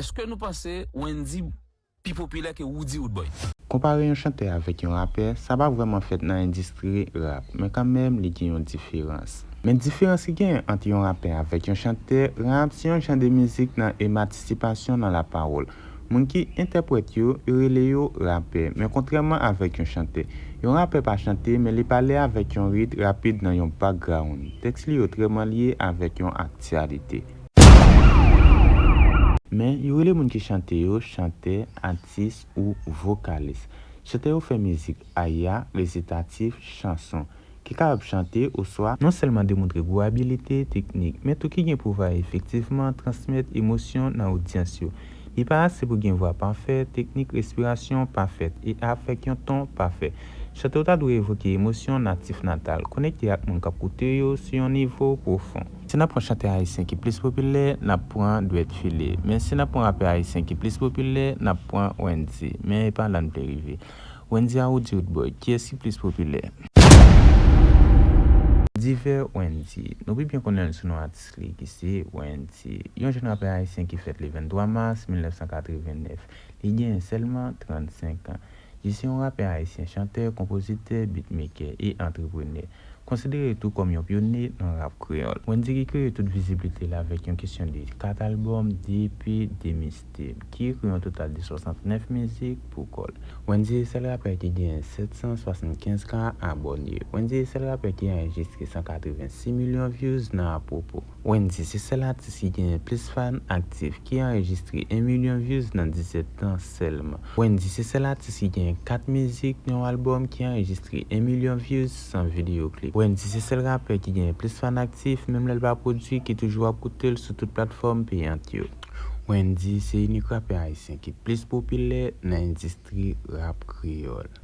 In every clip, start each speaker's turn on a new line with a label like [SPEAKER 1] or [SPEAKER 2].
[SPEAKER 1] Eske nou panse Wendy pi popilè ke Roody Roodboy? Konpare yon chantè
[SPEAKER 2] avèk yon rapè, sa pa vrèman fèt nan endistri rap, men kanmenm li gen yon diferans. Men diferans ki genyen ant yon rapè avèk yon chantè rap, se yon jan de mizik nan ematisipasyon nan lapawòl. Moun ki entèprèt yo, yo rele yo rapè, men kontrèman avèk yon chantè, yon rapè pa chante men li pale avèk yon rit rapid nan yon background. Tèks li yo trè manlye avèk yon aktyalite. Men, yo rele moun ki chante yo chantè, atis ou vokalis. Chantè yo fè mizik, aya, resitatif, chanson, ki kapab chante oswa. Non sèlman demontre gwo abilite teknik, men tou ki gen pou va efektivman transmèt emosyon nan odyans yo. Li pa ase pou gen vwa pafè, teknik respirasyon pafèt, e avèk yon ton pafè. Chante yo ta dwe evoke emosyon natif natal, konekte ak moun k ap koute yo sou yon nivo pwofon. Si n ap pran chantè ayisyen ki plis popilè, n ap pran Dwèt File. Men si n ap pran rapè ayisyen ki plis popilè, n ap pran Wendy. Men epa la n vle rive. Wendy a Roody Roodboy, kiyès ki plis popilè? Divè Wendy. Nou pi byen konnen l sou non atis li ki se Wendy. Yon jèn rapè ayisyen ki fèt le 23 mas 1989. Li genyen sèlman 35 an. Li se yon rapè ayisyen, chantè, konpozitè, bitmekè e antreprenè. Konsidere tou kòm yon pyone nan rap kreyòl, Wendyy ki kreye tout viziblite l avèk yon kesyon de 4 albòm, 2 EP, 2 mixtape, ki ekri yon total de 69 mizik pou kò l. Wendyy e sèl rapè ki genyen 775 ka abòne. Wendyy e sèl rapè ki anrejistre 186 milyon vyouz nan apwopo. Wendyy se sèl atis ki genyen plis fan aktif ki anrejistre 1 milyon views nan 17 tan sèlman. Wendyy se sèl atis ki genyen 4 mizik nan yon albòm ki anrejistre 1 milyon views san videyo klip. Wendyy se sèl rapè ki genyen plis fan aktif menm lè l pa pwodui ki toujou ap koute l sou tout platfòm peyant yo. Wendyy se inik rapè ayisyen ki plis popilè nan endistri rap kreyòl.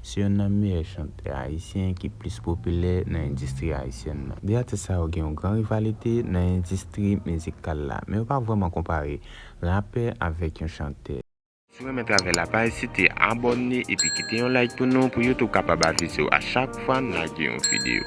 [SPEAKER 2] Se yonn nan meyè chantè ayisyen ki plis popilè nan endistri ayisyèn nan. De atis sa yo gen yon gran rivalite nan endistri mizikal la, men yo pa vrèman konpare rapè avèk yon chantè. Si w renmen travay la pa ezite abòne epi kite yon like pou nou pou YouTube kapab avise w a chak fwa n lage yon videyo.